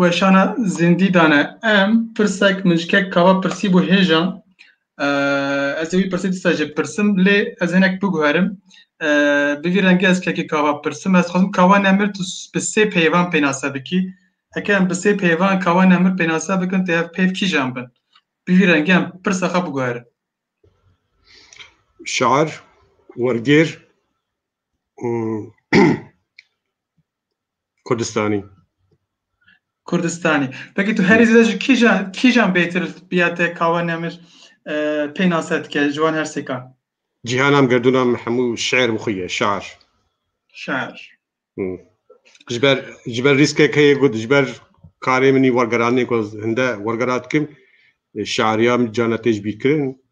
Weşana zindî dane em pirsek min ji kek kava pirsî bû hêja ez ê wî pirsê dîsa jê pirsim lê ez hinek biguherim bi vî rengê ez kekê kava pirsim ez xwazim kava nemir tu bi sê peyvan pênase bikî heke em bi sê peyvan kava nemir pênase bikin tê ev peyv kîjan bin bi vî rengê em pirsa xwe biguherim Şair wergêr Kurdistanî. Kurdistanî. Peki tu herî zêde ji kîjan kîjan bêtir biya te kawe nemir pênase dike ji wan her sêkan? Cîhanam gerdûnam hemû şiir bi xwe ye, şar. Şar. Ji ber ji ber rîskek heye got ji ber karê min wergeranê ku hinde wergera dikim şariya min cana tê ji bîrkirin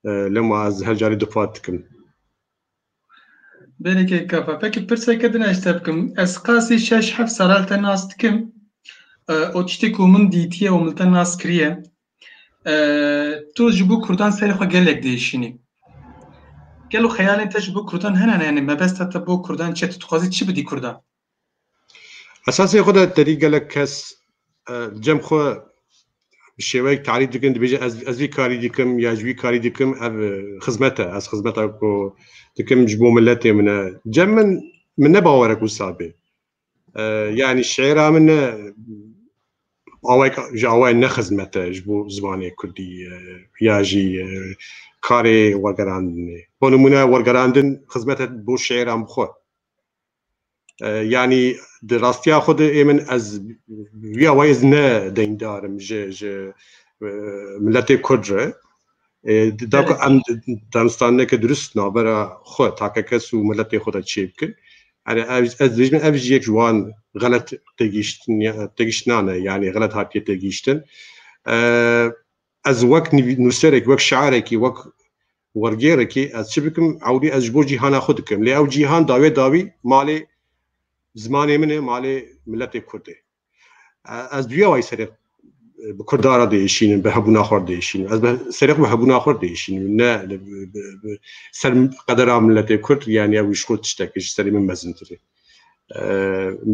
lema ez her carê difat dikim. Bereke kafa. Peki pirseke din eşte bikim. Ez qasî şeş heft saral te nas dikim. O tiştê ku min dîtiye û min te nas kiriye. Tu ji bo Kurdan serê xwe gelek diêşînî. Gelo xeyalên te ji bo Kurdan hene ne? Yanî mebesta te bo Kurdan çi? Tu dixwazî çi bidî Kurdan? Esasê xwe de terî gelek kes cem xwe bi şêweyek tarîf dikin dibêje ez ez vî karî dikim ya ji wî karî dikim ev xizmet e ez xizmeta ku dikim ji bo miletê min e cem min min ne bawere ku wisa bê yanî şêra min ne awayek ji awayên ne xizmet e ji bo zimanê kurdî ya jî karê wergerandinê bo nimûne wergerandin xizmet e bo şêran bi xwe Yanî di rastiya xwe de ê min ez wiya wayî ez ne deyndar im ji ji miletê Kurd re. Da ku em danistaneke dirust navbera xwe takekes û miletê xwe de çê bikin. Erê ez dibêjim ev jî yek ji wan xelet têgihiştinan e yanî xelet hatiye têgihiştin. Ez wek nûserekî, wek şiarekî, wek wergêrekî ez çi bikim ewlî ez ji bo cîhana xwe dikim. Lê ew cîhan dawê dawî malê zimanê min e, malê miletê kurd e. Ez duya wayî serê bi kurda re diêşînim, bi hebûna xwe re diêşînim. Ez serê xwe bi hebûna xwe re diêşînim. Ne ser qedera miletê kurd yanî ew ji xwe tiştekî ji serê min mezintir e.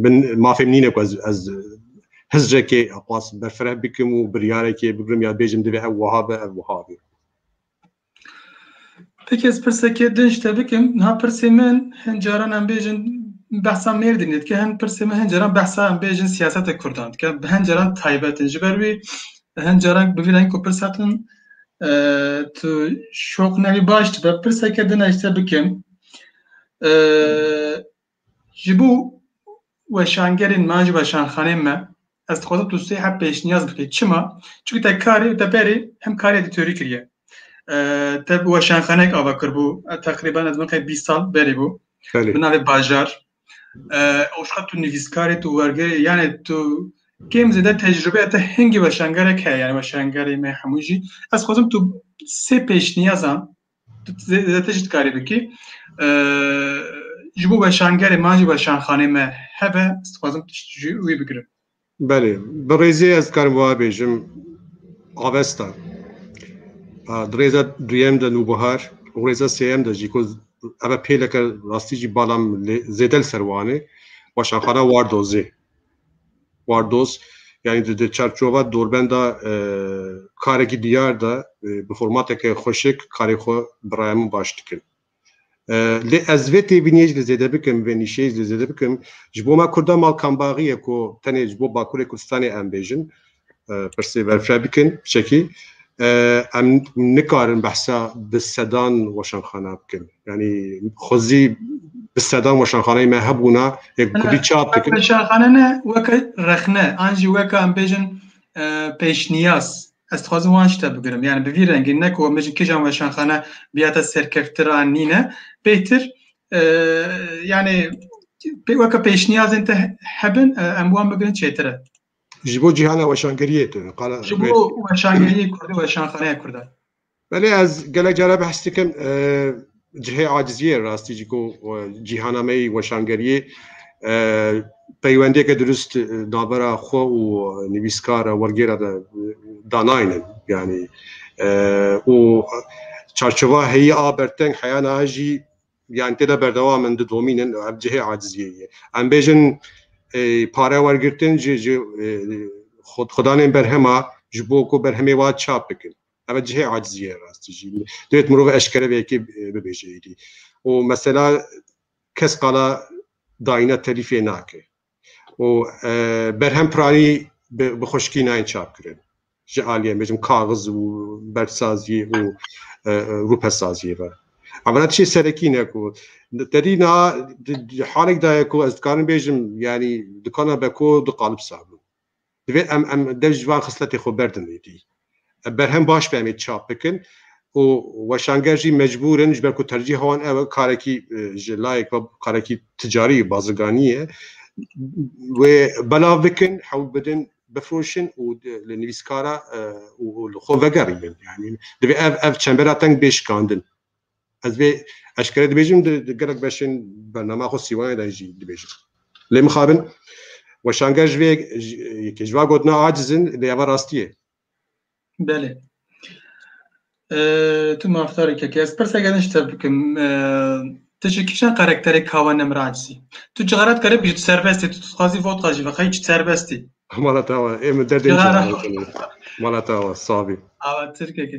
Min mafê min nîne ku ez ez hizrekê xwaz berfireh bikim û biryarekê bigrim ya bêjim divê ev wiha be ev wiha be. Peki ez pirsekê din ji te bikim. Niha pirsê min hin caran em bêjin behsa Mêrdînê dike, hin pirsê min hin caran behsa em bêjin siyaseta Kurdan dike. Bi hin caran taybet in. Ji ber wî hin caran bi vî rengî ku pirsa din tu şoq nebî baş dibe. Pirseke din ez ji te bikim. ji bo weşangerên me ji weşanxanên me ez dixwazim tu sê hep pêşniyaz bikî çima çi te karê û te berê hem karê di teorî kiriye te bi weşanxanek ava kirbû teqriban ez miqe bî sal berê bû bi navê bajar ew şiqet tu nivîskarê tu wergerê yanê tu kêm zêde tecrübe te hingî weşangerek heye yani weşangerê me hemû jî ez xwazim tu sê pêşniyazan Zêdetir jî dikarî bikî. Ji bo weşangerê man jî weşanxanê me hebe, ez dixwazim tişt ji wî bigirim. Belê, bi rêzê ez dikarim wiha bêjim avesta. Di rêza duyem de nûbihar û rêza sêyem de jî ku eve pêleke rastî jî bala min zêde li ser wan e weşanxana Wardozê. Wardos yanî di di çarçova dorbenda karekî diyar de bi formateke xweşik karê xwe bi raya min baş dikin. Lê ez vê têbîniyê jî li zêde bikim, vê nîşeyê jî li zêde bikim. Ji bo me Kurdan mal kambaxî ye ku tenê ji bo Bakurê Kurdistanê em bêjin. pirsê berfireh bikin çekî em nikarin behsa bi sedan weşanxana bikin yanî xwezî bi sedan weşanxaneyê me hebûna yek kudî çap dikin weşanxane ne weke rexne an jî weke em bêjin pêşniyaz ez dixwazim wan şte bigirim yani bi vî rengî ne ku min ji kîjan weşanxane biyate serkeftir an nîne bêtir yani weke pêşniyazên te hebin em wan bigirin çêtir e Ji bo cîhana weşangeriyê tu qala Ji bo weşangeriyê Kurdî weşanxaneya Kurdan. Belê ez gelek cara behs dikim cihê aciziyê rastî jî ku cîhana me yî weşangeriyê peywendiyeke dirust navbera xwe û nivîskara wergêra de danaynin yanî û çarçova heyî a berteng heyana jî yani tê de berdewam in didomîn in ev cihê aciziyê ye. Em bêjin pare wergirtin ji ji xwedanên berhema ji bo ku berhemê wa çap bikin. Ev cihê aciziyê rastî jî. Dêt mirov eşkere vê yekê bibêje êdî. û mesela kes qala dayîna telîfê nake. û berhem piranî bi xweşikî nayên çapkirin ji aliyê bêjim kaxiz û berfsazî û rûpesaziyê ve. Em re tişê serekî ne ku derî niha halek daye ku ez dikarim bêjim yanî dikana beko du qalib sabûn. Divê em em dev ji van xisletê xwe berdin êdî. Berhem baş be em ê çap bikin û weşanger jî mecbûr in ji ber ku tercîha wan ew e karekî ji layek ve karekî ticarî baziganî ye wê belav bikin hewl bidin bifroşin û li nivîskara û li xwe vegerînin. Yanî divê ev ev çembera teng bê şikandin. Ez vê eşkere dibêjim di gelek beşên bernama xwe sîwanê de jî dibêjim. Lê mixabin weşanger ji vê yekê ji va gotina aciz in lê eva rastî ye. Belê. Tu mafdarê kekê. Ez pirsek edin ji te bikim. Tu ji kîjan karakterê kawa nemir acizî? Tu cixara dikare bî tu serbestî, tu dixwazî vodka jî vexeyî tu serbestî. Mala te awa, ê min derdê Cixara. mala te awa sabî. Awa tirkekê.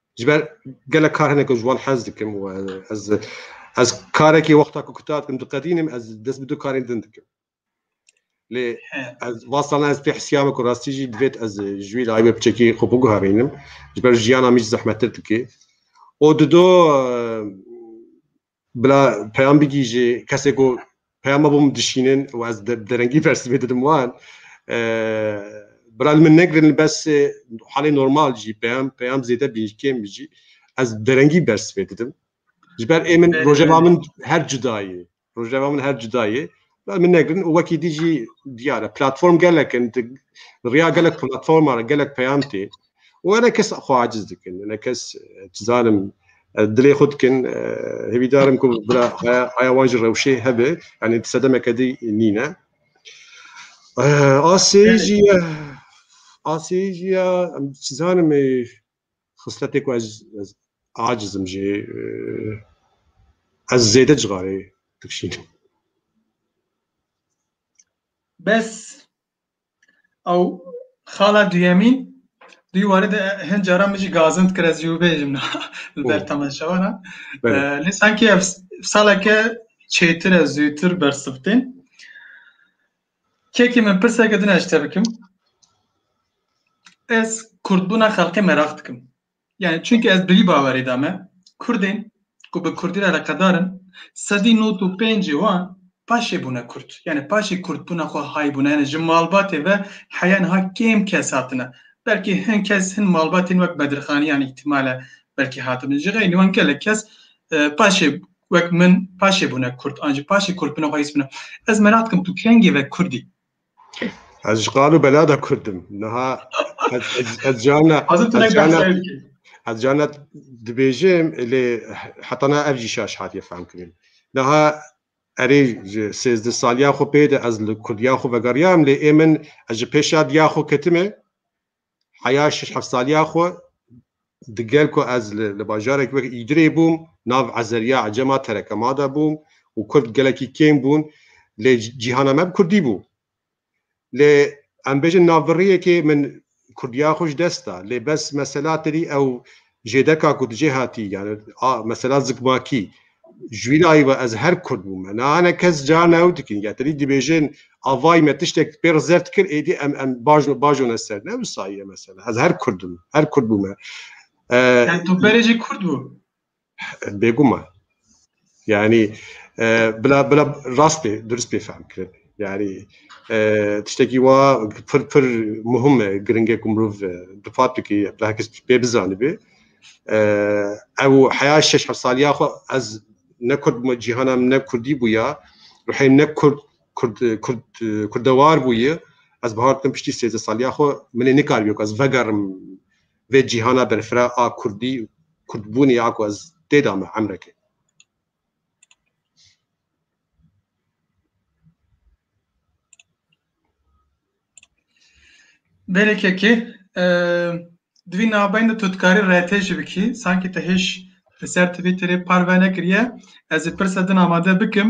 Ji ber gelek kar hene ku ji wan hez dikim û ez ez karekî wexta ku kutar dikim diqedînim ez dest bi du karên din dikim. Lê ez vasana ez pê hesiyame ku rastî jî divêt ez ji wî layê me biçekî xwe biguherînim. Ji ber jiyana min jî zehmettir dike. û dido Bila peyam bigihîjê kesê ku peyama bo min dişînin û ez bi derengî bersivê didim wan. Bila li min negirin li bes halê normal jî peyam peyam zêde bî jî kêm bî jî ez bi derengî bersivê didim. Ji ber ê min rojeva min her cuda yê. Rojeva min her cuda yê. Min negirin û wekî dî jî diyar e platform gelek in riya gelek platforma re gelek peyam tê û were kes xwe aciz dikin ne kes çi zanim dilê xwe dikin hêvîdar im ku bira haya wan jî rewşê hebe yanî di sedemeke dî nîne asê jî ye asê jî ye em çi zanim Xisletê ku ez ez aciz im jê ez zêde cixarê dikşînim. Bes ew xala duyemîn duy warê de hin caran min jî gazind kir ez jî wî bêjim na li ber temaşewana. Lê sankî ev saleke çêtir e zûtir bersivtên. Kekê min pirseke din ez ji te bikim. Ez kurdbûna xelkê meraq dikim. Yani çünkü ez bi vî bawerê de me Kurdên ku bi Kurdî re eleqedar in sedî nod û pêncê wan paşê bûne Kurd. Yani paşê kurdbûna xwe hay bûne. Yani ji malbatê ve heya niha kêm kes hatine. Belkî hin kes hin malbatên wek Bedirxanîyan îhtimal e belkî hatibin. Ji xeynî wan gelek kes paşê Wek min paşê bûne kurd an jî paşê kurd bûne xwe hîs bûne. Ez merak dikim tu kengê ve kurdî? Ez ji qal û bela de kurdim. Niha ez cana ez cana dibêjim lê heta na ev jî şaş hatiye fehm kirin. Niha erê ji sêzdeh saliya xwe pê de ez li kurdiya xwe vegeriyam lê ê min ez ji pêşa diya xwe ketime Heya şeş heft saliya xwe digel ku ez li bajarek wek îdirê bûm nav Ezeriya Ecema Terekema de bûm û kurd gelekî kêm bûn lê cîhana me bi kurdî bû. Lê em bêjin navbirriyekê min kurdiya xwe ji dest da lê bes mesela tedî ew Jêdeka ku tu jê hatî yani a mesela zikmakî ji wî layî ve ez her kurd bûme. Na hene kes cara ne ew dikin ya tenî dibêjin a vay me tiştek pê re zert kir êdî em em baj bajone ser. Ne wisa ye mesela ez her kurd im her kurd bûme. Em tu berê jî kurd bû. Bêguman. Yani bila bila rast pê dirist pê fehm kirin. Yani tiştekî wa pir pir muhim e giring e ku mirov di fatikî bi herkes pê bizanibê. Ew heya şeş heft saliya xwe ez ne kurd bûme cîhana min ne kurdî bûya. Ruhê ne kurd kurd kurd kurdewar bûye. Ez bi har dikim piştî sêzdeh saliya xwe min ê nikaribe ku ez vegerim Vê cîhana berfira a kurdî û kurdbûnê a ku ez tê de me emrekê. Berekekê, divî navbeyên de tu dikarî rtê jî bikî, sankî te hêj li ser Twitterê parve nekiriye, ez ê pirsa din amade bikim,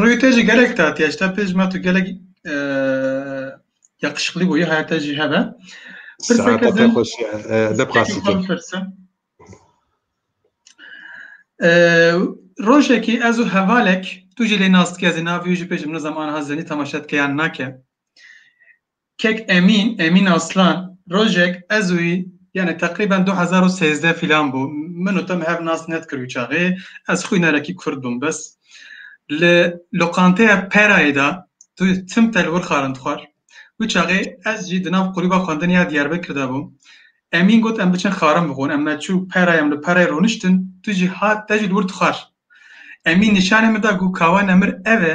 Rûyê te jî gelek tatiye ji te pê ji me tu gelek yakışıklı bûyî heya te jî hebe. Pirseke din pirsin. Rojekî ez û hevalek tu jî lê nas dike zî navî wî jî pê ji min zam aniha zenî temaşet ke yan nake. Kek Emîn, Emîn Aslan, Rojek ez û yanî teqrîben du hezar û sêzdeh filan bû, min û te me hev nas nedikir wî çaxê, ez xwînarekî kurd bûm bes. Li loqanteya Perayê de tu tim te li wir xwarin dixwar. Wî çaxê ez jî di nav kulîba xwendinê ya Diyarbekir de bûm. Emîn got em biçin xwarin bixwin. Em me çû Perayê em li Perayê rûniştin tu jî hat te jî li wir dixwar. Emîn nîşanê min da got kawa nemir ev e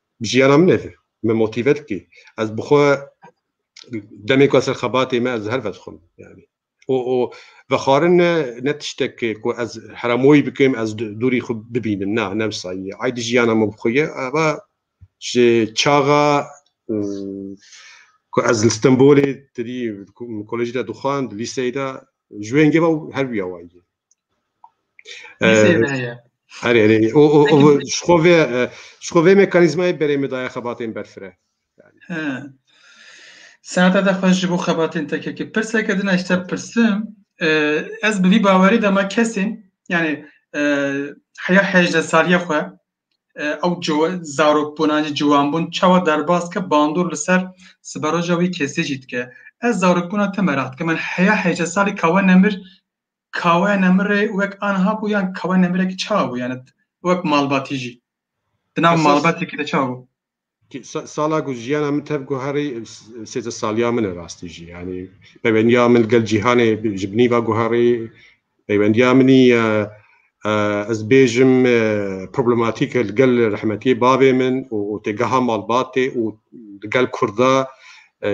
Bi jiyana min e vê. Me motive dikê. Ez bi xwe demê ku ez ser xebatê me ez her vedixwim. Yani. O, o vexwarin ne, ne tiştek ku ez heramoyî bikim, ez dûrî xwe bibînim. Na, ne wisa ye. Ay di jiyana min bi xwe ye. Eva ji çaxa ku ez li Stenbolê tirî kolejî de dixwand, lîseyê de ji wê hingê ve her wiya wa ye. Herê herê o o o şkovê şkovê mekanîzmayê berê me daya xebatên berfire. Senata da xweş ji bo xebatên tekekê pirseke din eşte pirsim ez bi vî bawerî de me kesên yani heya hejde saliye xwe ew zarokbûna jî ciwanbûn çawa derbas ke bandor li ser siberoja wî kesê jî dike ez zarokbûna te merak dike min heya hejde salî kawe nemir Kawe Nemirê wek anha bû yan Kawe Nemirekî çawa bû yani wek malbatî jî di nav Esas- malbatekî de çawa bû? Ki sa- Sala ku jiyana min tev guherî sêzdeh saliya min e rastî jî yanî peywendiya min gel cîhanê bi- ji binî ve guherî peywendiya minî e, e, ez bêjim e, problematîk e li gel rehmetiyê bavê min û û têgeha malbatê û li gel kurd de e,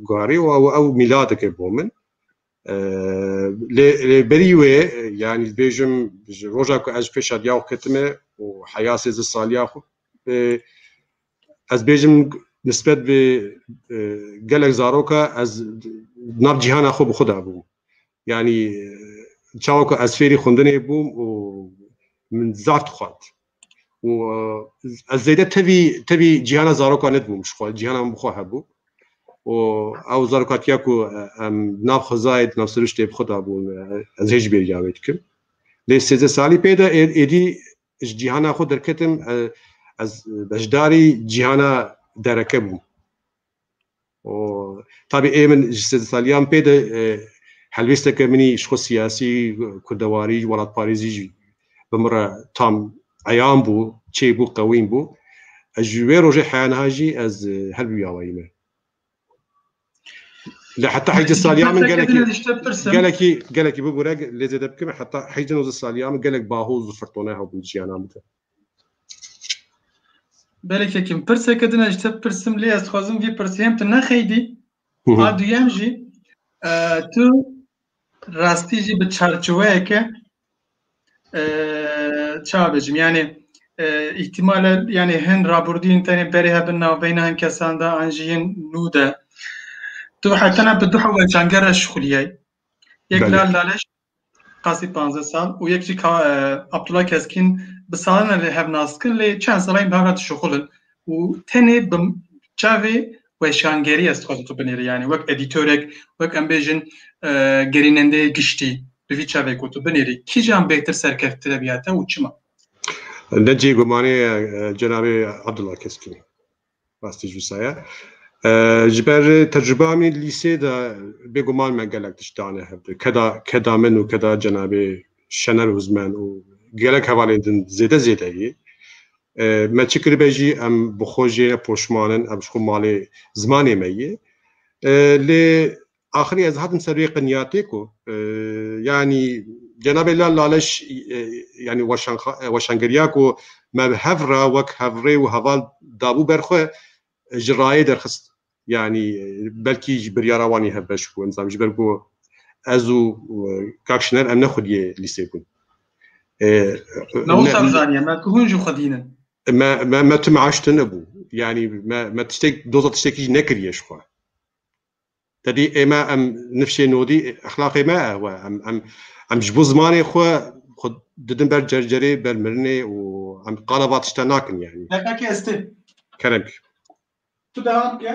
guherî û ew ew mîladek e bo min. Lê berî wê yanî dibêjim ji roja ku ez ji pêşa diya xwe ketime û heya sêzdeh saliya xwe ez dibêjim nisbet bi gelek zaroka ez di nav cîhana xwe bi xwe de bûm. Yanî çawa ku ez fêrî xwendinê bûm û min zaf dixwend. û ez zêde tevî tevî cîhana zarokan nedibûm ji xwe cîhana min bi xwe hebû û ew zarokatiya ku em nav xwezayê di nav siriştê bi xwe de bûn ez hê jî bêriya wê dikim lê sêzdeh salî pê de êdî ji cîhana xwe derketim ez beşdarî cîhana dereke bûm Tabî ê min ji sê saliyan pê de helwêsteke min jî xwe siyasî, kurdewarî, welatparêzî jî bi min re tam eyan bû, çê bû, qewîm bû. Ez ji wê rojê heya niha jî ez her bi wî awayî me. Lê heta heyzdeh saliyan min gelekî gelekî gelekî bibûre lê zêde bikim heta heyzdeh nozdeh saliyan min gelek baho û zifirtone hebûn jiyana min de. Belê kekim pirseke din ez ji te pirsim lê ez dixwazim vî pirsê hem tu nexeydî a duyem jî e, tu rastî jî bi çarçiweyeke e, çabêjim yanê e, îhtîmale yanê hin raburdîn tenê berê hebin navbeyna hin kesan de an jî hin nû de tu hetena bi du heweçangere şixuliyey yek Belê. lal laleş Qasî panzdeh sal û yek jî ka e, Abdullah Keskîn bi salan e lê hev nas kin lê çend salayên bi hev re dişuxulin û tenê bi çavê weşangerî ez dixwazim tu binêrî yanî wek edîtorek wek em bêjin e, gerînendeyê giştî bi vî çavê ku tu binêrî kîjan bêtir serkefttire bîya te û çima? Ne cihê gumanê ye e, cenabê Abdullah Keskîn. Rastî jî wisa ye. Ji ber tecrûbeya min lîsê de bêguman me gelek tişt dane hev bi. Keda keda min û keda cenabê Şener Ozmen û gelek hevalên din zêde zêde yê. Me çi kiribe jî em bi xwe jê ne poşman in, em ji xwe malê zimanê me yê. Lê Axirî ez hatim ser vê qinyatê ku yanî cenabê Lal Laleş yanî weşangeriya ku me bi hev re wek hevrê û heval dabû ber xwe ji rayê derxist. Yanî belkî ji biryara wan î hev beş bû em dizanim ji ber ku ez û kak Şiner em ne xwediyê lîsê bûn. Me wisa bizaniye me ku hûn jî xwedîn in. Me me me tu me aştine bû. Yanî me me tiştek doza tiştekî jî nekiriye ji xwe. Tedî ême em nifşê nodî exlaqê me e we em em em ji bo zimanê xwe xwe didin ber cercerê ber mirinê û em qala va tişta nakin yanî. Deqekê ez tim. Kerem ki. Tu devam ke.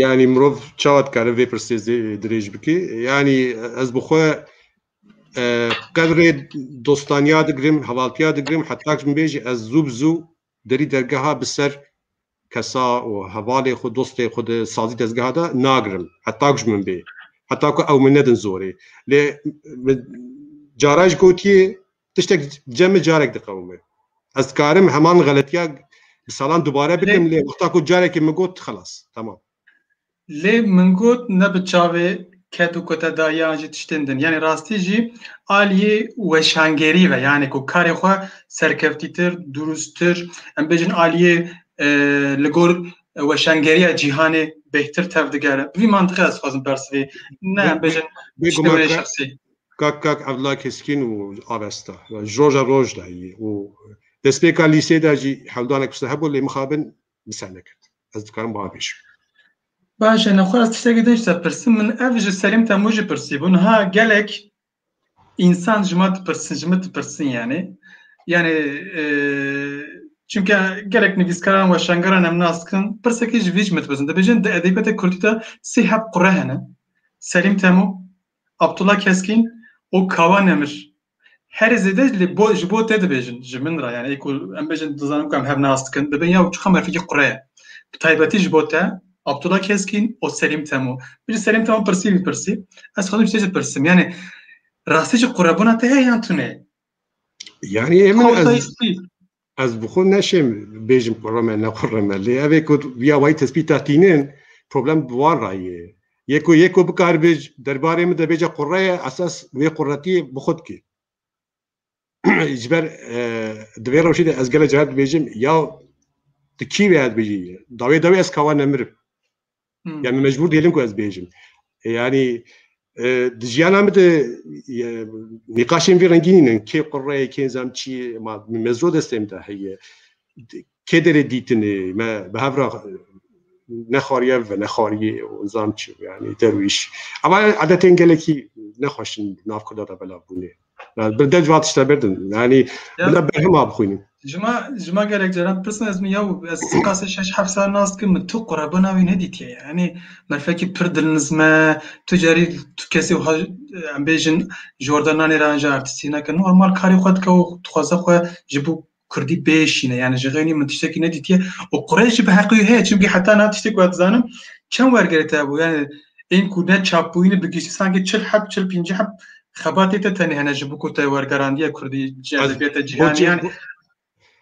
Yanî mirov çawa dikare vê pirsê dirêj bikê yanî ez bi xwe qedrê dostaniya digirim hevaltiya digirim heta min bêjî ez zû bi zû Derî dergeha bi ser kesa û hevalê xwe, dostê xwe di sazî dezgeha de nagirim. Heta ku ji min bê. Heta ku ew min nedin zorê. Lê min cara jî gotiye tiştek dice min carek diqewime. Ez dikarim heman xeletiya bi salan dubare bikim lê wexta ku carekê min got xelas. Temam. Lê min got ne bi çavê ket û kutedayiyan jî tiştên din. Yanî rastî jî aliyê weşangerî ve yanî ku karê xwe serkevtîtir, durustir em bêjin aliyê li gor weşangeriya cîhanê bêhtir tev digere. Bi vî mantiqê ez dixwazim persivî. Ne em bêjin tiştê wê şexsî. Kak kak Evla Keskîn û avesta. Ji roja roj de yî û destpêka lîsê de jî hewldanek piştre hebû lê mixabin Misal nekird. Ez dikarim wiha bêjim. Baş e, lê xwe ez tiştekî din ji te pirsim. Min ev ji Selîm Temû jî pirsîbû. Niha gelek însan ji me dipirsin, ji min dipirsin yanî. Yanî çunke gelek nivîskaran weşangeran em nas dikin, pirsekî ji vî ji min dipirsin. Dibêjin di edebiyata kurdî de sê heb qure hene. Selîm Temû, Abdullah Keskin û Kawa Nemir herî zêde li bo ji bo te dibêjin ji min re yani ê ku em bêjin dizanim ku em hev nas dikin dibin ya çiqas merfekî qure ye bi taybetî ji bo te Abdullah Keskin û Selîm Temo Piştî Selîm Temo pirsî vî pirsî ez xwedî tê jî pirsim yani rastî jî qurebûna te heye yan tune ye yani ê min ez Ez bi xwe neşêm bêjim kurreme ne kurreme lê ev ê ku ya wayî tespîta tînin problem bi wan ra yê. Yê ku yê ku bikaribê derbarê min de bêje kurre ye esas wê kurretiyê bi xwe dikê. Ji ber di vê rewşê de ez gelek caran dibêjim ya tu kî wê ez dibêjî dawê dawê ez ka wan nemirim. Yani mecbur değilim ku ez bêjim. Yani di jiyana min de nîqaşên vî rengînîn in. Kê qurre, kê zam çi ma mezro destê min de heye. Kê derê dîtinê me bi hev re nexwariye ve nexwariyê û zam çi yani derwîş. Ema edetên gelekî nexweş in nav Kurda de belav bûnê. Yani bir dev vat işte berdin. Yani Ya. bila berhim abi xuynin. Cuma cuma gerek ceren pirsn ez mi yaw ez spasê şeş heft sal nas kim mi tu qurabana wî nedîtiye yani merfekî pir dilnizme tu carî tu kesê wiha em bêjin ji orda nanê re anja artîstî neke normal karê xwe dike û dixwaze xwe ji bo Kurdî pêşîne yani ji xênî min tiştekî nedîtiye û Qurêş jî bi heqî heye çimkî heta niha tiştek ku ez dizanim çend wergerê te bû yani ên ku ne çapbûyî ne bi giştî sankî çil heb çil pîncî heb xebatê te tenê hene ji bo ku te wergerandiye Kurdî ji edebiyata cîhanî yani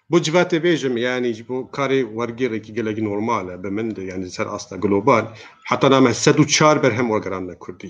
Bo civatê bêjim yani ji bo karê wergêrekî gelekî normal e bi min de yani ser asta global heta name sed û çar berhem wergerandine Kurdî.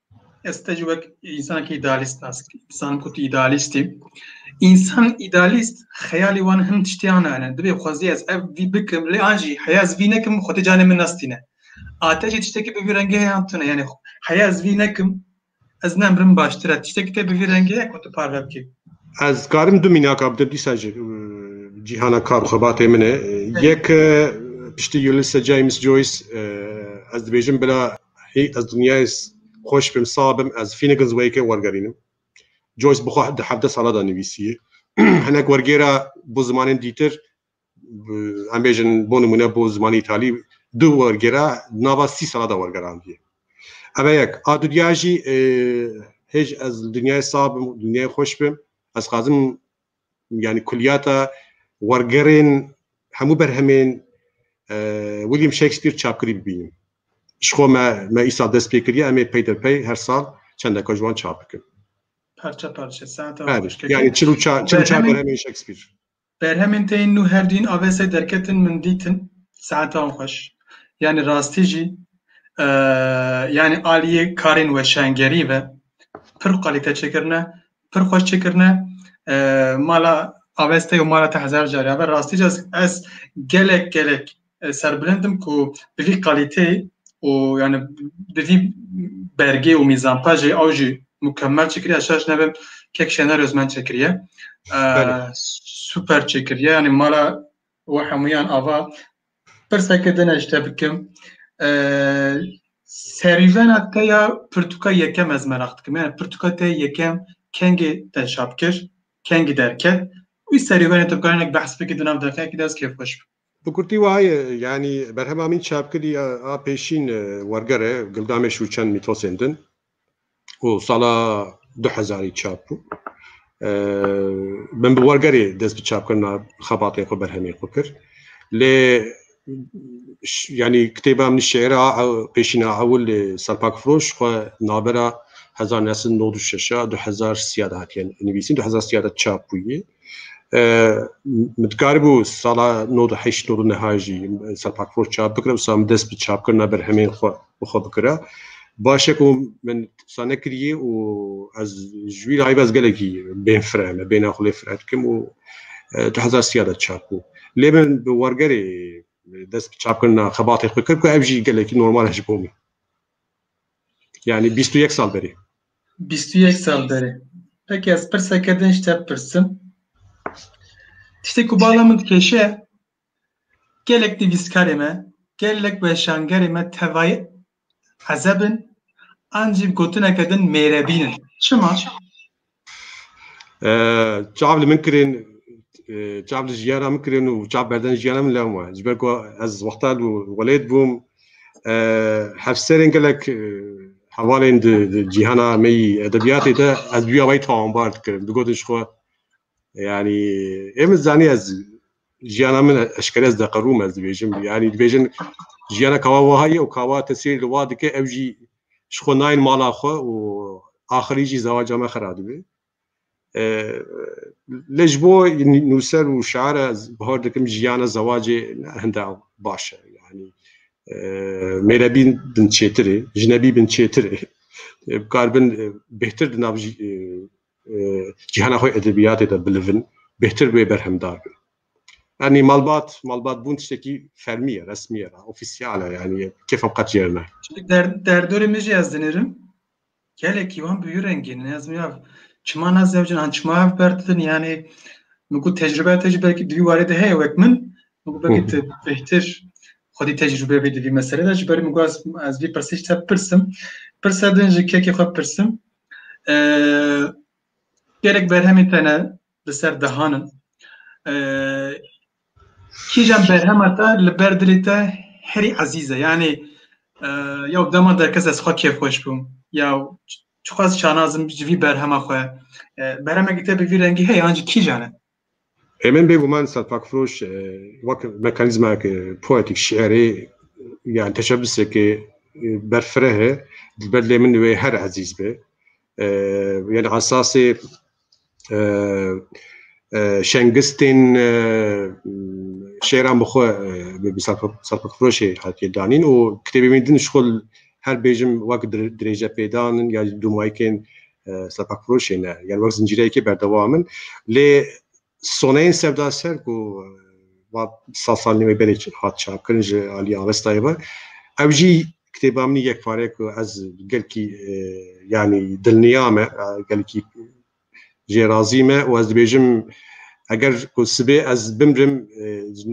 Ez te ji wek însanekî îdealîst nas dizanim ku tu îdealîst î. Însan îdealîst xeyalî wan hin tiştiyan hene. Divê xwezî ez ev vî bikim lê an jî heya ez vî nekim xwe tê canê min nestîne. Ate jî tiştekî bi vî rengê heye an tune yanî heya ez vî nekim ez nemrim baştir e tiştekî tê bi vî rengê heye ku tu parve bikî. Ez karim du mînaka bidim dîsa ji cîhana kar û xebatê min e. Yek piştî Ulysses James Joyce ez dibêjim bila Hî ez dinyayê xweş bim sax bim ez Finnegan's Wake'ê wergerînim. Joyce bi xwe di hevdeh sala de nivîsiye. Hinek wergêra bo zimanên dîtir em bêjin bo nimûne bo zimanê îtalî du wergêra nava sî sala de wergerandiye. Eve yek a dudya jî hêj ez dinyayê sax bim dinyayê xweş bim ez xwazim yani kulyata wergerên hemû berhemên William Shakespeare çapkirî bibînim. Ji xwe me me îsal dest pê kiriye em ê peyderpey her sal çendeka ji wan çap bikin. Parça parça saata yani çil û çar çil û çar berhemên Shakespeare. Berhemên te yên nû her dîn avesê derketin min dîtin saeta wan xweş. Yani rastî jî yani aliyê karên weşangerî ve pir qalîte çêkirine Pir xweş çêkirine mala aveste û mala te hezar carê ave rastî ca ez gelek gelek serbilindim ku bi vî qalîteyê û yani bi vî bergê û mîzanpa jî ew jî mukemmel çêkiriye şaş nebim kek şener özmen çêkiriye super çêkiriye yani mala we hemûyan ava Pirseke din ez te bikim. Serîvena te ya pirtûka yekem ez meraq dikim. Yani pirtûka te yekem kengê te çap kir, kengî derket. Wî serîvena te bikarin ek behs bike di nav deqeyekî de ez kêfxweş bim. Bi kurtî wiha ye, yanî berhema min çap kirî a pêşîn werger e, Gildamê Şûçen mîtosên din. û sala du hezarî çap bû. Min bi wergerê dest bi çapkirina xebatên xwe berhemên xwe kir. Lê yanî kitêba min şêra pêşîna ewil lê Serpak Firoş xwe navbera hezar nesin nod û şeşa du hezar sîya de hatiye nivîsîn du hezar sîya de çap bûye. Min dikaribû sala nod û heşt nod û niha jî serpakfor çap bikira wisa min dest bi çapkirina berhemên xwe bi xwe bikira. Baş e ku min wisa nekiriye û ez ji wî layê ve ez gelekî bên fire me bêhna xwe lê fire dikim û du hezar sîya de çap bû. Lê min bi wergerê dest bi çapkirina xebatê xwe kir ku ev jî gelekî normal e ji bo min. Yanî bîst û yek sal berê. Bîst û yek sal derê. Peki ez pirseke din ji te bipirsim. Tiştê ku bala min dikêşe gelek nivîskarê me, gelek weşangerê me tevayê ezeb in an jî bi gotineke din mêrebîn in. Çima? Çav li min kirên çav li jiyana min kirên û çav berdan jiyana min lewm e. Ji ber ku ez wexta li welêt bûm Hevserên gelek hevalên di cîhana me yî edebiyatê de ez duya wê tawanbar dikirin. Digotin ji xwe yanî ê min zanî ez jiyana min eşkere ez deqirûm ez dibêjim yanî dibêjin jiyana kawa wiha ye û kawa te sêr li wa dike ew jî ji xwe nayên mala xwe û axirî jî zewaca me xera dibê. Lê ji bo nûser û şair e ez bihar dikim jiyana zewacê hinde baş e. Yanî mêrebîn bin çêtir ê, jinebî bin çêtir ê. Bi kar bin bêhtir di nav cîhana xwe edebiyatê de bilivin, bêhtir wê berhemdar bin. Yanî malbat, malbat bûn tiştekî fermî ye, resmî ye, ofîsyal e yanî kêfa qet jêr ne. Derdorê min jî ez dinirim. Gelekî wan bi wî rengî ne ez miyav çima ne zewcin an çima ev berdidin yanê min ku tecrübeya te jî belkî di vî warê de heye wek min min ku belkî tu bêhtir xwedî tecrübe bî di vî meselê de ji ber min ku ez ez vî pirsî ji te bipirsim pirsa din ji kekê xwe bipirsim gelek berhemên te ne li ser dihanin Kîjan berhema te li ber dilê te herî ezîz e? Yanê ya dema derkes ez xwe kêfxweş bûm ya çixwaz şanazim ji vî berhema xwe berhemekî te bi vî rengî heye an jî kîjan e? Hemen bêguman Serpakfiroş wek mekanîzmayeke poetîk şiirê yan teşebiseke berfireh e, li ber lê min wê her ezîz be. Yani esasê şengistên şêran bi xwe bi serpixfiroşê hatiye danîn û kitêbê min din ji xwe her bêjim wek dirêjepêdan in ya jî dûmayikên serpixfiroşê ne yan wek zincîreyekê berdewam in lê soneyên sevda ser ku sal salî wê belê hat çapkirin ji aliyê Avestayê ve ew jî Kitêba min yek pare ku ez gelkî yanî dilniya me, gelkî jê razî me û ez dibêjim eger ku sibê ez bimrim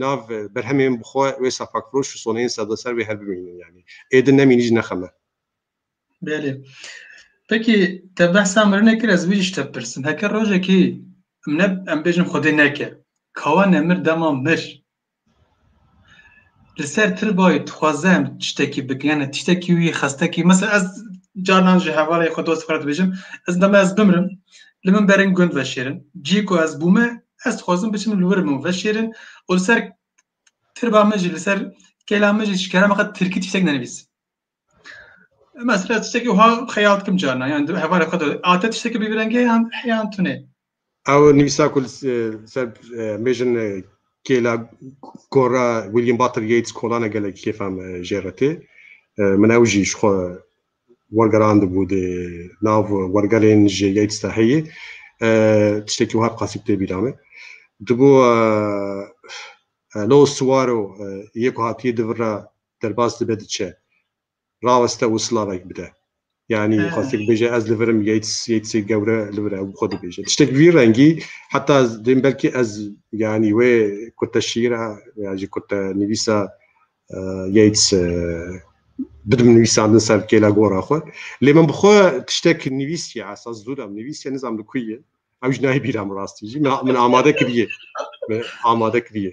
nav berhemên bi xwe wê sefakfiroş û soneyên sevdaser wê her bimînin yanî. Ê din nemînî jî nexeme. Belê. Peki te behsa mirinê kir ez vî jî te pirsim. Heke rojekî em ne em bêjin xwedê neke. Kawa nemir dema mir Li ser Tirbayê dixwaze em tiştekî bikin yani tiştekî wî xestekî mesela ez carnan ji hevalê xwe dost xwe dibêjim ez dema ez bimrim li min berin gund veşêrin cî ku ez bûme ez dixwazim biçim li wir min veşêrin û li ser tirba min jî li ser kêla min jî ji kerema xwe tirkî tiştek nenivîs. Mesela tiştekî wiha xeyal dikim carna yan hevalê xwe de ate tiştekî bi rengê yan heyan tunê. Ew nivîsa ku ser mêjin kêla gora William Butler Yeats kolane gelek kêfam jê re tê. Min ew jî ji xwe wergerandibû dê nav wergerên ji Yeats de heye. Tiştekî wiha bi qasî bi tê bîra min. Dibû Lo Suwaro yê ku hatiye di vira Derbas dibe diçe. Raweste û silavek bide. Yanî xwestek bêje ez li vir im Yeats Yeatsê gewre li vir e û xwe dibêje. Tiştek bi vî rengî heta ez dêm belkî ez yanî wê kurte şîra ya jî kurte nivîsa Yeats bidim nivîsandin ser kêla gora xwe. Lê min bi xwe tiştek nivîsiye esa zûram nivîsiye nizam li ku ye. Ew jî nayê bîra min rastî jî min amade kiriye. Min amade kiriye.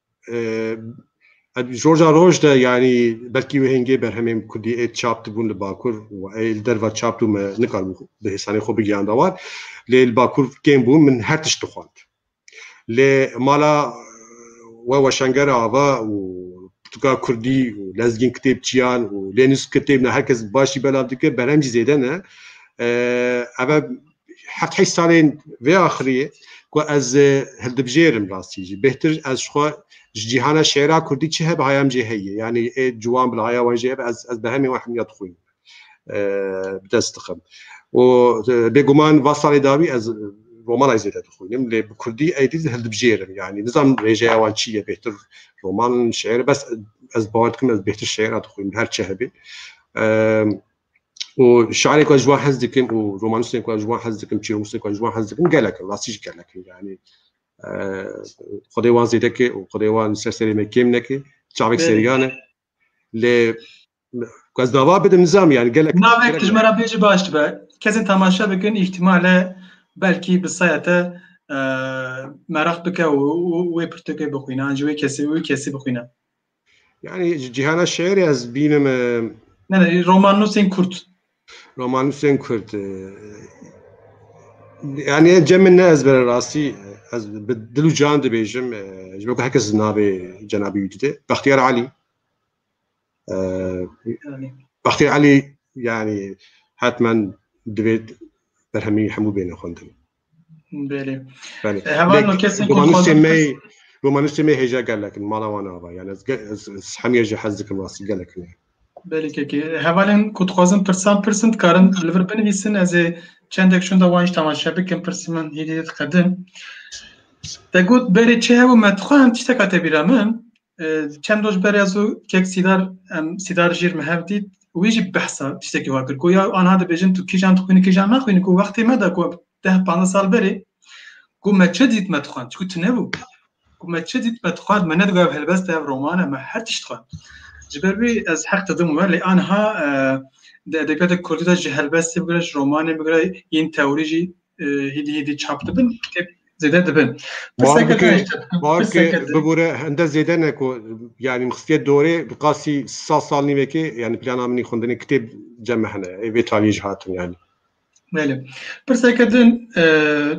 Roja roj de yanî belkî wê hêngê berhemên Kurdî ê çap dibûn li Bakur û ê li derve çap dû me nikaribû bi hêsanê xwe bigihanda wan. Lê li Bakur kêm bûn min her tişt dixwand. Lê mala we weşanger ava û pirtûka Kurdî û lezgîn kitêbçiyan û lênûs kitêb ne her kes baş jî belav dike berhem jî zêde ne. Ev e heft heşt salên vê axirî ye ku ez hildibijêrim rastî jî bêhtir ez ji xwe ji cîhana şêra kurdî çi hebe haya min jê heye yanî ê ciwan bila haya wan jê hebe ez ez bi hemî wan hemîya dixwînim bi dest dixim û bêguman va salê dawî ez romanay zêde dixwînim lê bi kurdî êdî hildibijêrim yanî nizam rêjeya wan çi ye bêhtir roman şêr bes ez bawer dikim ez bêhtir şêra dixwînim her çi hebê û şerê ku ji wan hez dikim û romanîstên ku ji wan hez dikim çîrokîstên ku ji wan hez dikim gelek in rastî jî gelek in yanî xwedê wan zêde ke û xwedê wan ser serê me kêm neke çavek seriyan e lê ku ez dava bidim nizam yanî gelek navek ji me re bêje baş dibe kesên temaşe bikin îhtîmale belkî bi saya te meraq bike û wê pirtûkê bixwîne an ji wê kesî wê kesî bixwîne Yani cihana şiirê ez bînim. E, ne ne romanusên kurt. Romanusên kurt. E, yani cemê ne ez bere rastî ez bi dil û can dibêjim e, ji bo ku herkes navê cenabî wî dide. Bextiyar Alî. Bextiyar Alî yani hetmen divêt berhemî hemû bêne xwendin. Romanistê me hêja gelekin mala wan ava yani ez hemiye jî hez dikim rastî gelekin e. Belê kekê hevalên ku dixwazin pirsan pirsin dikarin li vir binivîsin ez ê çendek şûnda wan jî temaşe bikim pirsî min hêdî diqedin. Te got berê çi hebû me dixwend tişteka te bîra min Çend roj berê ez û kek Sîdar em Sîdar jîr me hev dît wî jî behsa tiştekî wa kir ku ya anha dibêjin tu kîjan dixwînî kîjan naxwînî ku wextê me de ku deh panzdeh sal berê ku me çi dît me dixwend çku tunebû ku me çi dît me dixwend me nedibe ev helbest ev roman e me her tişt dixwend ji ber wî ez heq didim we lê anha di edebiyata kurdî de ji helbestê bigire ji romanê bigire yên tewrî jî hêdî hêdî çap dibin kitêb zêde dibin. Barke bibûre hende zêde ne ku yanî mixstiye dorê bi qasî sa sal nîvekê yanî plana min xwendinê kitêb cem hene ê vê taliyê jî hatin yanî. Belê. Pirseke din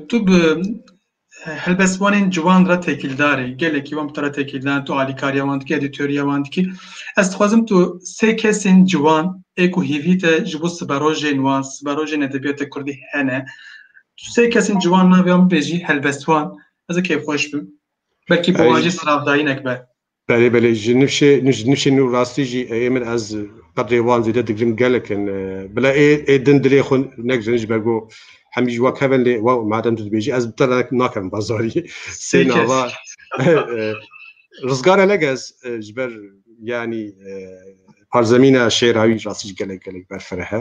tu bi Helbestvanên ciwan re têkîldar e. Gelekî wan bi te re têkîldar in, tu alîkariya wan dikî, edîtoriya wan dikî. Ez dixwazim tu sê kesên ciwan ê ku hêvî te ji bo siberojên wan, siberojên edebiyata Kurdî hene, tu sê kesên ciwan navê wan bibêjî, helbestvan. Ez ê kêfxweş bim. Belkî bi wan jî silavdayînek be. Belê belê ji nifşê ji nifşê nû rastî jî ê min ez qedrê wan zêde digirim gelek in. Bila ê ê din dilê xwe negirin ji ber ku hemî ji we kev in lê we madem tu dibêjî ez bi te re nakim bazarî. Sê nava Rizgar Elegez ji ber yanî parzemîna şêra wî rastî jî gelek gelek berfireh e.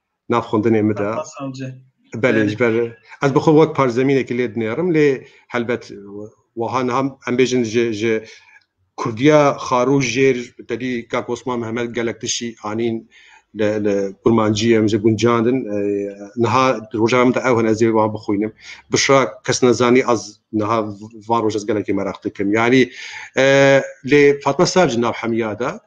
nav xwendinê min de belê ji ber ez bi xwe wek parzemînekî lê dinêrim lê helbet wiha niha em bêjin ji ji Kurdiya xarû jêr tedî kak Osman Mehmed gelek tişî anîn li li kurmancî em ji guncandin niha roja min de ew hin ez ê wan bixwînim bişra kes nezanî ez niha van roj ez gelekî meraq dikim yanî lê Fatma Savcî nav hemiya de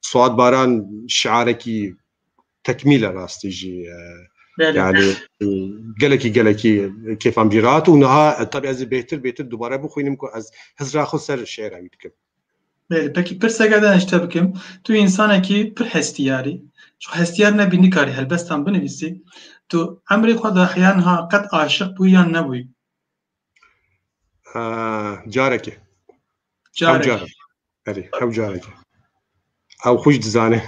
Suat Baran şiarekî tekmîl e rastî jî yani gelekî gelekî kêfan bî rahat û niha tabi ez ê bêhtir bêhtir dubare bixwînim ku ez hizra xwe ser şiêra wî bikim. Belê pekî pirseke din ez ji te bikim. Tu însanekî pir hestiyar î. Ji hestiyar nebî nikarî helbestan binivîsî. Tu emrê xwe de heya niha qet aşiq bûyî yan nebûyî? Careke. Careke. Careke. Erê, hev careke. Ew xwe jî dizane.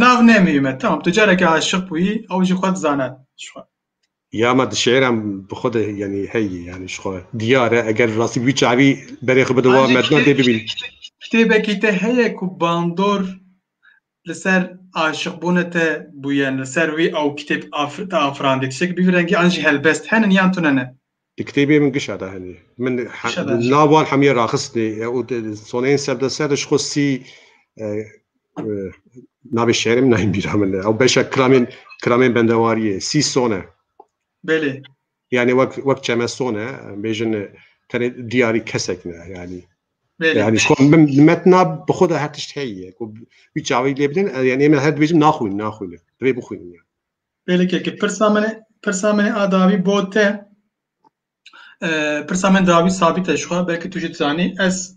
Nav nemî me. Tamam, tu careke aşiq bûyî, ew jî xwe dizane. Ya me di şiiran bi xwe de yanî heyî yanî ji xwe diyar e eger rastî wî çavî berê xwe bi di wa medna dê bibîn. Kitêbekî te heye ku bandor li ser aşiqbûnê te bûyen, li ser wî ew kitêb te afirandî, tiştekî bi vî rengî an jî helbest henin yan tune ne? Di kitêbê min gişa de hene. Min nav wan hemûyan raxistine û soneyên ser bi ser de ji xwe sî navê şerê min nayên bîra min e. Ew beşa kiramên kiramên bendewariyê sî sone. Belê. Yani wek wek çemeson e bêjin tenê diyarî kesek ne yani. Yani şu an min metna bi xwe de her tişt heye ku wî çavî lê bidin yani em her dibêjin naxwîn naxwîn divê bixwînin yani. Belki ki pirsa min pirsa min a dawî bo te pirsa min dawî sabît e şu an belki tu jî dizanî ez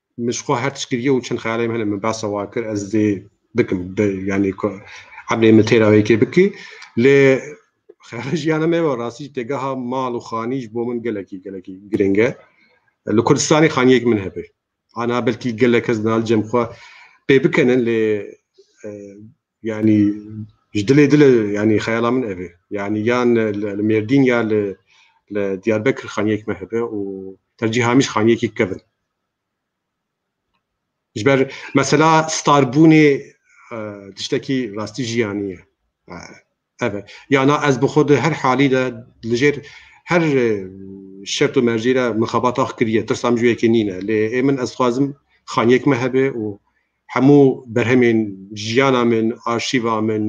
Min ji xwe her tişt kiriye û çend xeyalên min hene min behsa wan kir ez dê bikim yanî ku eblên min têra wê yekê bikî lê xeyala jiyana me wa rastî jî têgeha mal û xanî ji bo min gelekî gelekî girîng e li kurdistanê xaniyek min hebe ana belkî gelek kes nal cem xwe pê bikenin lê Yani ji dilê dile yani xeyala min ev e. Yani yan li Mêrdîn ya li li Diyarbekir xaniyek me hebe û tercîh hemîş xaniyekî kevin. Ji ber mesela starbûnê e, tiştekî rastî jiyanî ye. E, Ev e. Ya na ez bi xwe di her halî de li jêr her şert û mercî re min xebat ax kiriye. Tirsa min ji wê yekê nîne. Lê ê min ez dixwazim xaniyek me hebe û hemû berhemên jiyana min, arşîva min,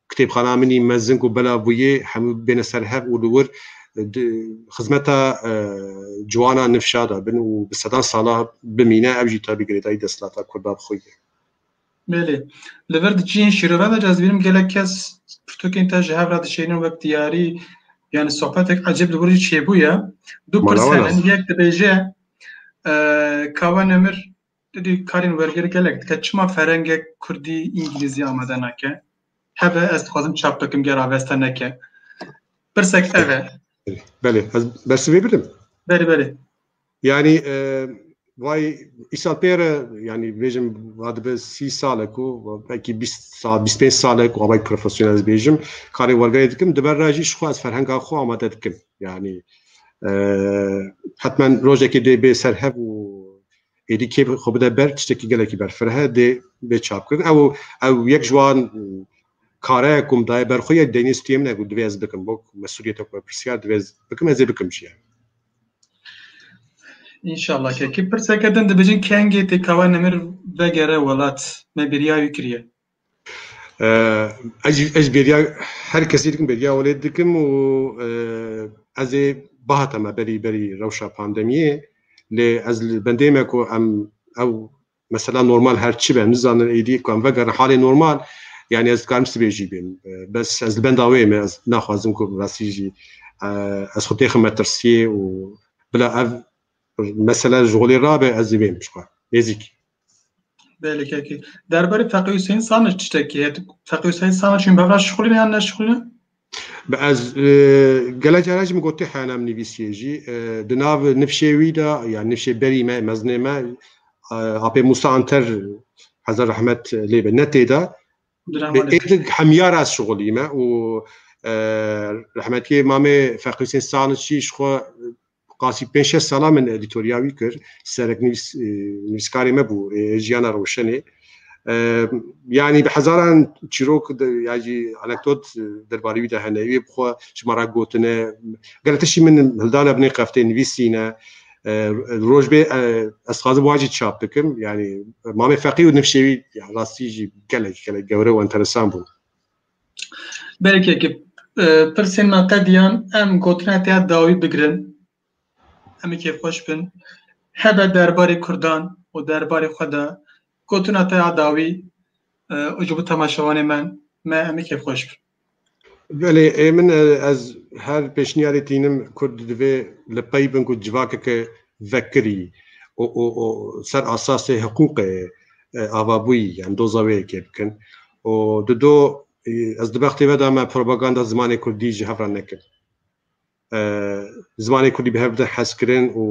kitêbxana min î mezin ku belav bûye hemû bêne ser hev û li wir di xizmeta ciwana nifşa de bin û bi sedan sala bimîne. Ev jî tabî girêdayî desthilata Kurda bi xwe ye. Belê. Li vir di cihên şîrove de ez bînim gelek kes pirtûkên te ji hev re dişênin wek diyarî yani sohbetek ecêb li wir jî çêbûye. Du pirs hene yek dibêje kawa nemir didî karên wergêr gelek dike çima ferengek kurdî îngilîzî amade nake heve ez dixwazim çap bikim ger avesta neke pirsek ev e. Belê ez bersivê bidim. Belê belê. Yanî vay îsal pê re yanî bêjim va dibe sî sal e ku belkî bîst sal bîst pênc sal e ku avayî profesyonel ez bêjim karê wergerê dikim di ber re jî ji xwe ez ferhenga xwe amade dikim yanî hetmen rojekê dê bê ser hev û êdî kê xwe bide ber tiştekî gelekî berfireh e dê bê çapkirin ew ew yek ji wan kare ku min daye ber xwe yek deynê stûyê min e ku divê ez bikim bo mesuliyete ku me pirsiyar divê ez bikim ez ê bikim jî Înşala kekî pirseke din dibêjin kengê tê kawa nemir vegere welat me bêriya wî kiriye. Ez ez bêriya her kesî dikim bêriya welê dikim û ez ê bahata me berî berî rewşa pandemiyê lê ez li bendê me ku em ew Mesela normal her çi be, nizanin êdî ku em vegerin halê normal, yanî ez dikarim sibê jî bêm. Bes ez li benda wê me, ez naxwazim ku bi rastî jî ez xwe têxim metirsiyê û bila ev mesele ji holê rabe ez ê bêm ji xwe nêzîk. Belê kekê. Derbarê Feqî Huseyîn Samic tiştekî heye? Feqî Huseyîn Samic hûn bevra şixulîne yan neşixulîne? Bi ez gelek caran jî min gotê heyana min nivîsiyê jî di nav nifşê wî de ya nifşê berî me mezinê me apê Musa Anter hezar rahmet lê be netê de êdik hemyar ez şixulî me û rahmetiyê mamê Feqîsên Saliçî ji xwe Qasî pênc şeş sala min edîtorya wî kir. Sereknivîs nivîskarê me bû ê jiyana rewşenê. Yanî bi hezaran çîrok ya jî anekdot derbarê wî de hene. Wê bi xwe ji me re gotine. Gelo tiştî min hildana binê qeftê nivîsîne. Roj bê ez dixwazim wan jî çap bikim. Yanî Mamê Feqî û nifşê wî rastî jî gelek gelek gewre û enteresan bûn. Belkekî pirsên me qediyan em gotina te dawî bigirin. Em ê kêfxweş bin. Hebe derbarê Kurdan û derbarê xwe de gotina te dawî û ji bo temaşevanê me me em ê kêfxweş bin. Belê ê min ez her pêşniyarê tînim Kurd divê li pey bin ku civakeke vekirî û û û ser asasê hiqûqê avabûyî yan doza wê yekê bikin. û di do ez di bextê ve de me propaganda zimanê kurdî ji hev re nekir zimanê kurdî bi hev bidin hezkirin û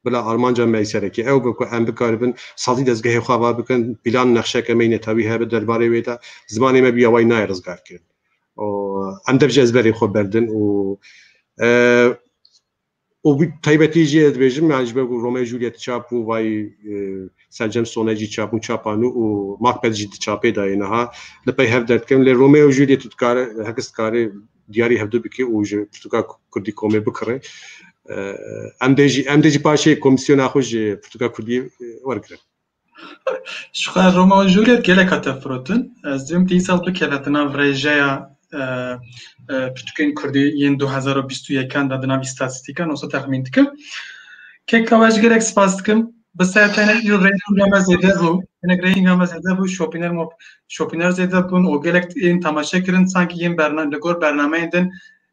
bila armanca me serekî ew bi ku em bikaribin sazî dezgehê xwe va bikin pîlan nexşeke me netawî hebe derbarê wê de zimanê me bîya way nayê rizgarkirin û em dev ji ezberê xwe berdin û û taybetî jî ez dibêjim yani ji ber ku Romeo Juliet çap bû vayî Selcem Sone jî çap bû çapa nû û Macbeth jî di çapê de ye niha li pey hev derdikerin lê Romeo Juliet û dikare her kes dikare diyarî hevdu bike û ji pirtûka kurdî komê bikire em dê jî em dê jî paşê komîsyona xwe ji pirtûka kurdî wergirin. Ji xwe Roma û Jûlîet gelek hate firotin. Ez divim dîsal bikeve di nav rêjeya pirtûkên Kurdî yên du hezar û bîst û yekan de di nav îstatîstîkan wisa texmîn dikim. Keka we ji gelek spas dikim. Bi se tenê îro rêyînga me zêde bû. Hinek rêyînga me zêde bû, şopîner şopîner zêde bûn û gelek ên temaşe kirin sanki yên li gor bernameyên din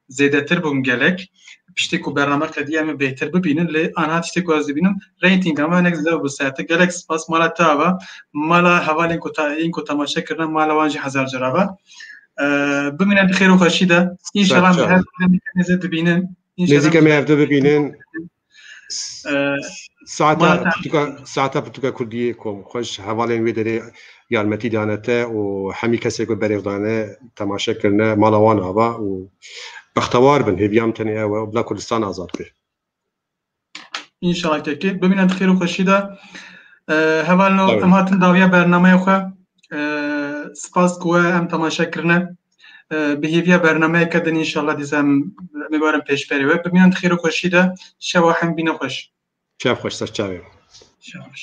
zêdetir bûm gelek. Piştî ku bername qediya min bêhtir bibînin lê anha tiştê ku ez dibînim reytinga me hinek zêde bû serte. Gelek spas mala te ava, mala hevalên ku yên ku temaşe kirine mala wan jî hezar cara be. Bimîne bi xêr û xweşî de. İnşallah me her zêde dibînin. Nêzîka me hevde bibînin. Saeta pirtûka kurdiyê ku xweş hevalên wê derê yarmetî dane te û hemî kesê ku berêv dane temaşe kirine mala wan ava û bextewar bin hêviya min tenê ew e bila Kurdistan azad be. İnşallah kekê. Bimîne di xêr û xweşî de. Hevalno em hatin dawiya bernameya xwe. Spas ku we em temaşe kirine. Bi hêviya bernameyeke din înşallah dîsa em ê werin pêşberê we. Bi miyan xêr û xweşî de şewa hem bîne xweş. Şev xweş ser çavê. Şev xweş.